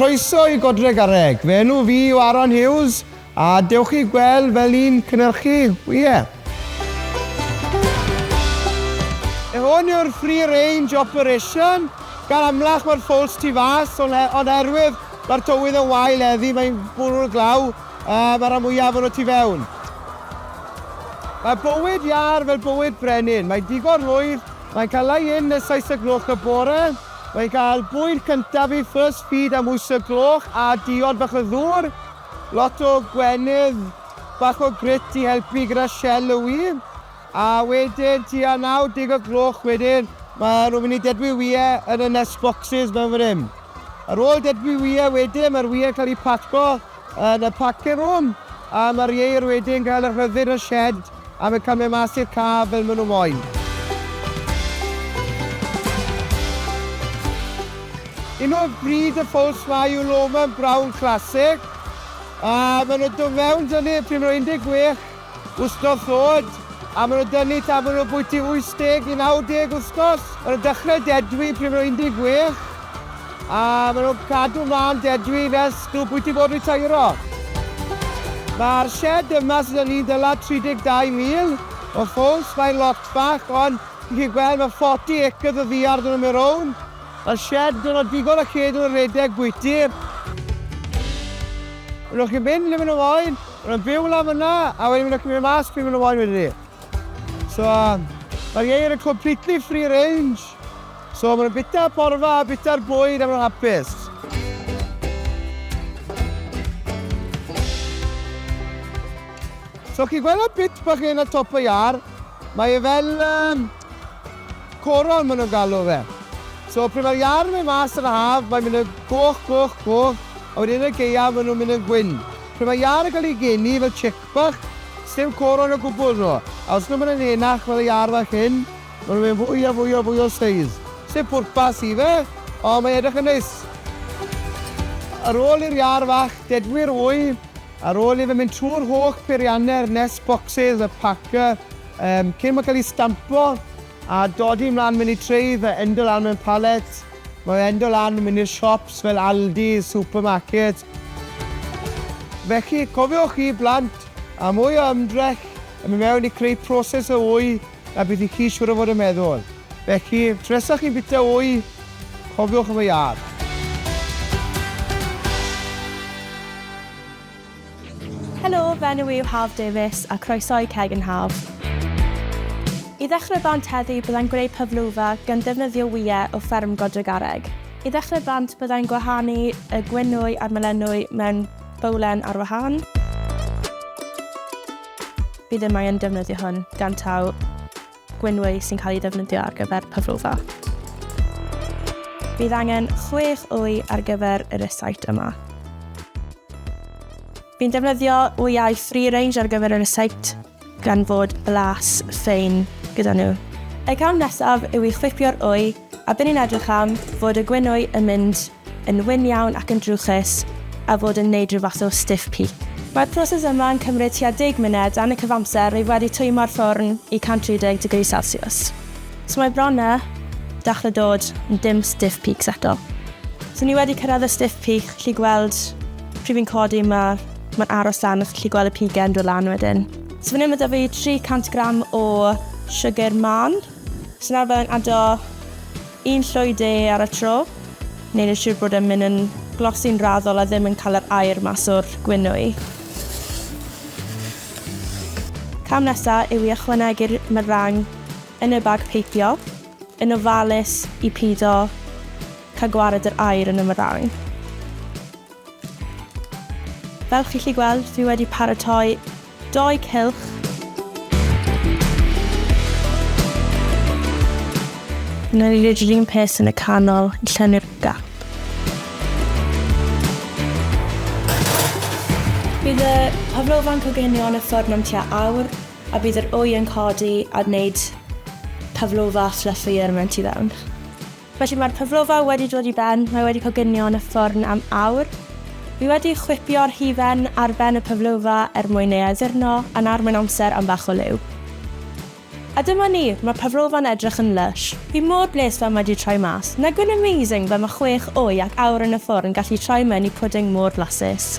Croeso i Godreg a Reg, fy enw fi yw Aaron Hughes a dewch i gweld fel i'n cynhyrchu wyau. Hwn yw'r Free Range Operation, gan amlach mae'r ffowls tu fas, ond er, erwydd mae'r tywydd yn wael eddi, mae'n bwrw'r glaw, uh, mae'r am fwyaf o'n tu fewn. Mae bywyd iar fel bywyd brenin, mae digon rhwydd Mae Calau Ynn y seis y gloch y bore. Mae gael bwyd cyntaf i First Feed am wyth y gloch a diod bach o ddŵr. Lot o gwennydd bach o grit i helpu gyda shell y ŵydd. A wedyn tua 90 y gloch wedyn mae nhw'n mynd i dedfwi ŵyau yn y nest boxes mewn fan hyn. Ar ôl dedfwi ŵyau wedyn mae'r ŵyau'n cael eu paco Yn y pacin rŵm! A mae'r ieir wedi'n cael y rhyddid y shed am y cymryd mas i'r ca fel maen nhw moyn. Hyn o bryd y ffowls mae yw Loman Brown Classic a maen nhw do fewn dyny pryd maen nhw 16. Wsnos ddod, a maen nhw'n dynnu tan maen nhw bwyty 80 i 90 wsnos. Maen nhw'n dechrau dedwi pryd maen nhw 16, a maen nhw'n cadw mlaen dedwi nes nhw bwyty bod ritairo. Mae'r sied yma sydd â ni'n dyla 32 mil o ffowls, mae'n lot bach, ond chi'n gallu gweld mae 40 acres o ddiar da nhw mewn rownd. Mae'r sied yn dod â digon o lle iddyn nhw redeg bwyty. Maen nhw'n gallu mynd le maen nhw moyn. Maen nhw'n byw lan fan'na, a wedyn maen nhw'n gallu mynd mas pryd maen nhw moyn wedyn 'ny. So, mae'r ieir yn completely free range, so maen nhw'n bwyta'r porfa a bwyta'r bwyd a maen nhw'n hapus. So chi'n gweld y bit bach hyn ar top y iâr? Mae e fel um, coron maen nhw'n galw fe. So pryd mae'r iâr yn mynd mas yn y haf, mae'n mynd yn goch, goch, goch, a wedyn yn y geiaf maen nhw'n mynd yn gwyn. Pe mae iâr yn cael ei geni fel chick bach, sdim coron o gwbl yno, a os nhw'n mynd yn henach fel y iâr fach hyn, maen nhw'n mynd fwy a fwy a fwy o size. Sdim pwrpas i fe, ond mae'n edrych yn neis. Ar ôl i'r iâr fach dedwy'r wy, ar ôl i fe mynd trwy'r holl beiriannau'r nest boxes, y packer, yym, cyn mae'n cael ei stampo a dodi mlaen mewn i trays a endio lan mewn pallets, mae o endio lan yn mynd i'r siops fel Aldi, supermarket, Felly, cofiwch chi blant, a mwy o ymdrech yn mynd mewn i creu proses o wy na beth i chi siŵr o fod yn meddwl. Felly, tresach chi'n bita wy, cofiwch am y iâr. Helo, fy enw i yw Haf Davies a croeso i Ceg yn Haf. I ddechrau bant heddi byddai'n gwneud paflova gan ddefnyddio wyau o fferm Godregarreg. I ddechrau bant byddai'n gwahanu y gwenwy a'r melenwy mewn bowlen ar wahân. Bydd y mae yn defnyddio hwn gan taw gwenwy sy'n cael ei ddefnyddio ar gyfer paflova. Bydd angen chwech wy ar gyfer y recyt yma. Fi'n defnyddio wyau free range ar gyfer y recyt gan fod blas ffein gyda nhw. Y cam nesaf yw i chwipio'r wy, a bydd ni'n edrych am fod y gwinwy yn mynd yn wyn iawn ac yn drwchus a fod yn neud rhyw fath o stiff peak. Mae'r proses yma yn cymryd tua deg munud dan y cyfamser rwyf wedi twymo'r ffwrn i 130 degrees celsiws. So mae bron a dachre dod yn dim stiff peaks eto. So ni wedi cyrraedd y stiff peak, chi gweld pryd fi'n codi ma Mae'n aros lan os gallu gweld y pigen yn dod lan wedyn. So fan hyn mae da fi 300 gram o sugar man. So nawr fe'n ado un llwy de ar y tro. Neu'n ei siwr bod e'n mynd yn glosi'n raddol a ddim yn cael yr air mas o'r gwynwy. Cam nesaf yw i ychwanegu'r myrang yn y bag peipio yn ofalus i pido cael gwared yr air yn y myrang. Fel chi'n gallu gweld, fi wedi paratoi dou cylch. Wna i roid yr un peth yn y canol i llenwi'r gap. Bydd y paflofa'n coginio yn y ffwrn am tua awr a bydd yr wy yn codi a gwneud paflofa fluffier mewn tu fewn. Felly mae'r paflofau wedi dod i ben, mae wedi coginio yn y ffwrn am awr. Fi wedi chwipio'r hufen ar ben y paflofa er mwyn ei addurno, a'n arwain amser am bach o liw. A dyma ni, mae'r paflofa'n edrych yn lysh. Fi mor blês fel mae wedi troi mas. Nagyw'n amazing fel mae chwech wy ac awr yn y ffwrn gallu troi mewn i pwding mor flasus.